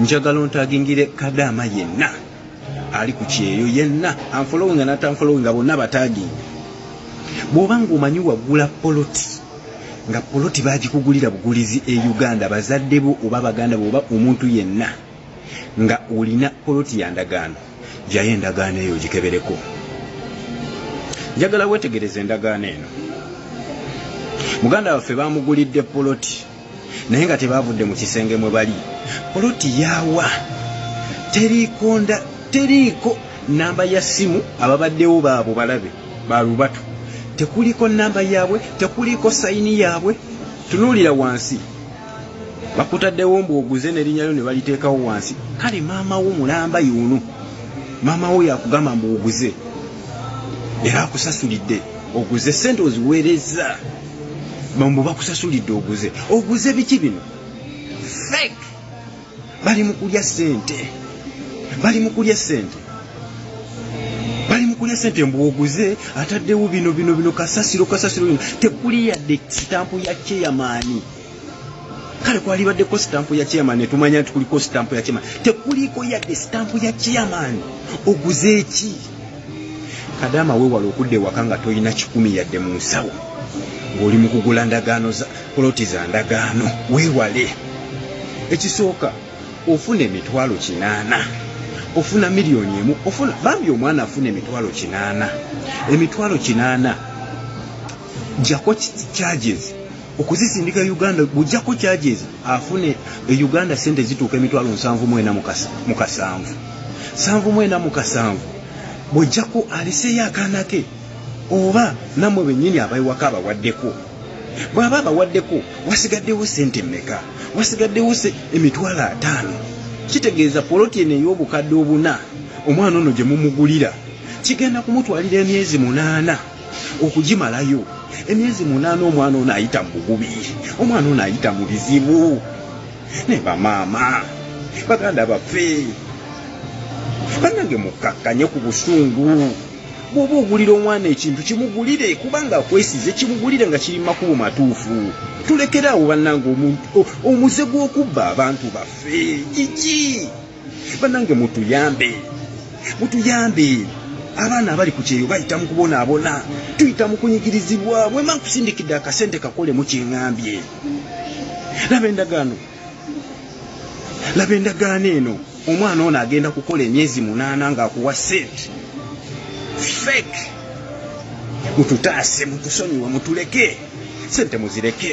njagala ontagingire kadaama yenna ali ku kyeyo yenna anfolowinga natanfolowinga bonna bataginge bwoba ngaomanyi wagula poloti nga poloti bagikugulira bugulizi e uganda bazadde bo oba baganda bo oba omuntu yenna nga olina poloti ya ndagaano jayo endagaano eyo gikebereko njagala wetegereza endagaano eno muganda waffe bamugulidde poloti naye nga tebavudde mu kisenge mwe bali poloti yawa teriikonda teriiko namba ya ssimu ababaddewo baabo balabe balubatu tekuliko namba yaabwe tekuliko sayini yaabwe tunuulira wansi bakutaddewo mbu oguze nerinyalyo ne baliteekawo wansi kale maama wo mulamba yuno maama wo yakugamba mbu oguze era akusasulidde oguze sente oziweereza mbu bakusasulidde oguze oguze biki bino fek bali mukulya sente bali mukulya sente bali mukulya sente mbu oguze ataddewo bino bino bino kasasiro kasasiro tekuli yadde sitampu ya cheyamaani kale kwalibaddeko sitampu ya chairman netumanya nti kuliko sitampu ya chairman tekuliiko yadde sitampu ya chairman oguze eki kadaama wewala okudda ewaka nga tolina kikumi yadde mu nsawo ng'oli mu kugula ndagaano poloti za ndagaano wewale ekisooka ofuna emitwalo kinaana ofuna miliyoni emu ofuna bambi omwana afuna emitwalo kinaana emitwalo kinaana jako charges okuzisindika e uganda bujjako charges afune e uganda sente zituuka emitwalo nsanvu mwena mu kasanvu sanvu mwena mu kasanvu bwojjako aliseeyo akaana ke oba namwe bennyini abaiwako abawaddeko bw'aba abawaddeko wasigaddewo sente mmeka wasigaddewo emitwalo ataano kitegeeza poloti eno ey'obukadde obuna omwana ono gye mumugulira kigenda kumutwalira emyezi munaana okugimalayo emyezi munaana omwana ono ayita mu bugubi omwana ono ayita mu bizibu ne bamaama baganda baffe banange mukkakkanye ku busungu bwoba ogulira omwana ekintu kimugulire kubanga akwesize kimugulire nga kiri makubo matuufu tulekeraawo bannange omuze gw'okubba abantu baffe gigi banange mutuyambe mutuyambe abaana abali ku kyeyo bayita mu kubonaabona tuyita mu kunyigirizibwa bwema nkusindikidde akasente kakolemu kyeŋambye laba endagaano laba endagaano eno omwana ono agenda kukola emyezi munaana ng'akuwa sente fake mututaase mutusonyiwe mutuleke sente muzireke